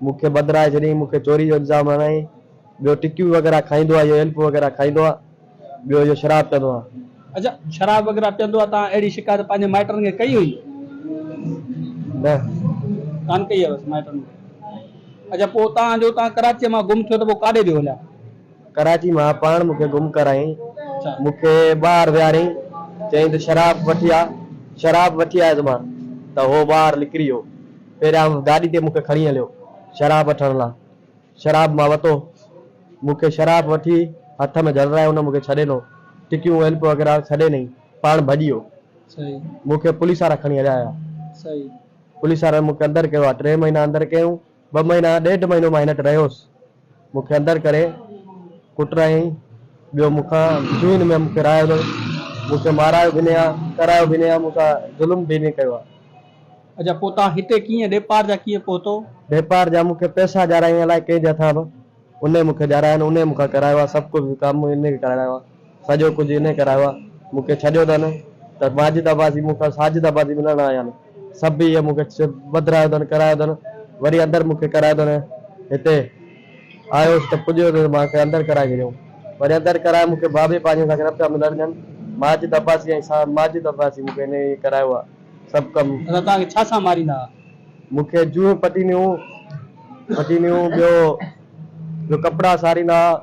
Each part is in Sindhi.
مون کي ٻڌرائي ڇڏيائين، مون کي چوري جو الزام هڻيائين، ٻيو ٽڪيون وغيره کائيندو آهي، اهو ايلپو وغيره کائيندو آهي، ٻيو اهو شراب پيئندو آهي. اچا شراب وغيره پيئندو آهي، توهان اهڙي شڪايت پنهنجي مائٽن کي ڪئي هئي؟ نه. ڪانه ڪئي هيس مائٽن کي. اچا پوء توهان جو توهان ڪراچيء مان گم ٿيو ته پوء ڪاڏي به هليا؟ ڪراچي مان پاڻ مون کي گم ڪرايائين، مون کي ٻاهر ويهاريائين، چيائين ته شراب وٺي آ، شراب وٺي آيس مان ته اهو ٻاهر نڪري ويو. پهريان گاڏي تي مون کي کڻي هليو شراب وٺڻ لا. شراب مان وتو. مون کي شراب وٺي هٿ ۾ جهڙرائي هن مون کي ڇڏي ڏنو. ٽڪيون ايلپ وغيره ڇڏي ڏني. پاڻ ڀڄي ويو. مون کي پوليس وارا کڻي هليا ويا. پوليس وارن مون کي اندر ڪيو آ. ٽي مهينا اندر ڪيائون. ٻه مهينا ڏيڍ مهينو مان هن وٽ رهيس. مون کي اندر ڪري ڪٽرايائين، ٻيو مون کان سوئين ۾ مون کي رايو نه، مون کي مارايو به نه يا ڪرايو به نه يا مون سان ظلم به نه ڪيو آ. اجا پوء تان هتي ڪيئن ڏيپار جا ڪيئن پهتو؟ ڏيپار جا مون کي پئسا ڏيارائين الائي ڪنهن جي هٿان به، انهي مون کي ڏيارائين، انهي مون کان ڪرايو آ، سڀ ڪجهه ڪم انهي ڪرايو آ. سڄو ڪجهه انهيء ڪرايو آ. مون کي ڇڏيو اٿن ته ماجد عباسي مون کان ساجد عباسي ملڻ آيا آهن. سڀ اهي مون کي ٻڌرايو اٿن، ڪرايو اٿن. وري اندر مون کي ڪرايو اٿن. هتي آيس ته پڄيو ته مان کي اندر ڪرائي ڇڏيائون. وري اندر ڪرائي مون کي بابي پنهنجي سان نه پيا ملڻ ڏين. ماجد عباسي ۽ سان ماجد عباسي مون کي انهيء ئي ڪرايو آ. سڀ ڪم. اسان توهان کي ڇا سان ماريندا ها؟ مون کي جونهين پٽينيون پٽينيون ٻيو جو ڪپڙا ساريندا ها.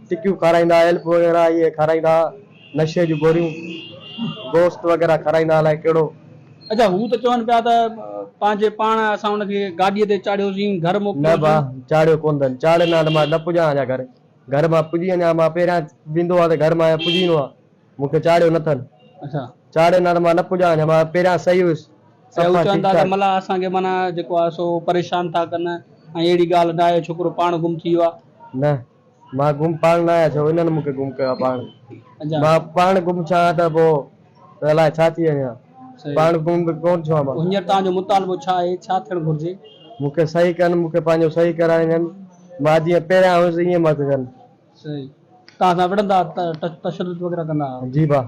ٽڪيون کارائيندا ايلپ وغيره اهي کارائيندا نشي جون گوريون گوشت وغيره کارائيندا الائي ڪهڙو. اچا هو ته چون پيا ته پنهنجي پاڻ اسان ان کي گاڏيء تي چاڙهيوسين گهر موڪليوسين. نه ڀاء چاڙهيو ڪونه اٿن چاڙهي نه اٿن مان نه پڄان اڃا گهر گهر مان پڄي اڃا مان پهريان ويندو آ ته گهر مان اڃا پڄي ايندو آ مون کي چاڙهيو نه اٿن اچا چاڙهي نه اٿن مان نه پڄان اڃا مان پهريان صحيح هيس اچا هو چون ٿا ته ملاح اسان کي معنيٰ جيڪو آ سو پريشان ٿا ڪن ۽ اهڙي ڳالهه نه آهي ڇوڪرو پاڻ گم ٿي ويو آ. نه. مان گم پاڻ نه آهيان ڇو انهن مون کي گم ڪيو آهي پاڻ مان پاڻ گم ڇا آهيان ته پوء ته الائي ڇا ٿي وڃان پاڻ گم به ڪونه ٿيو آهيان مان. هينئر توهان جو مطالبو ڇا آهي ڇا ٿيڻ گهرجي؟ مون کي صحيح ڪن مون کي پنهنجو صحيح ڪرائي ڏين مان جيئن پهريان هيس ائين مت ڪن. صحيح توهان سان وڙهندا ها تشدد وغيره ڪندا ها؟ جي ڀا.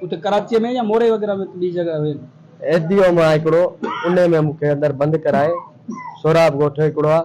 اتي ڪراچيء ۾ يا موري وغيره ۾ ٻي جڳهه هين؟ ايڌيء مان هڪڙو انهي ۾ مون کي اندر بند ڪرائي سهراب ڳوٺ هڪڙو آهي.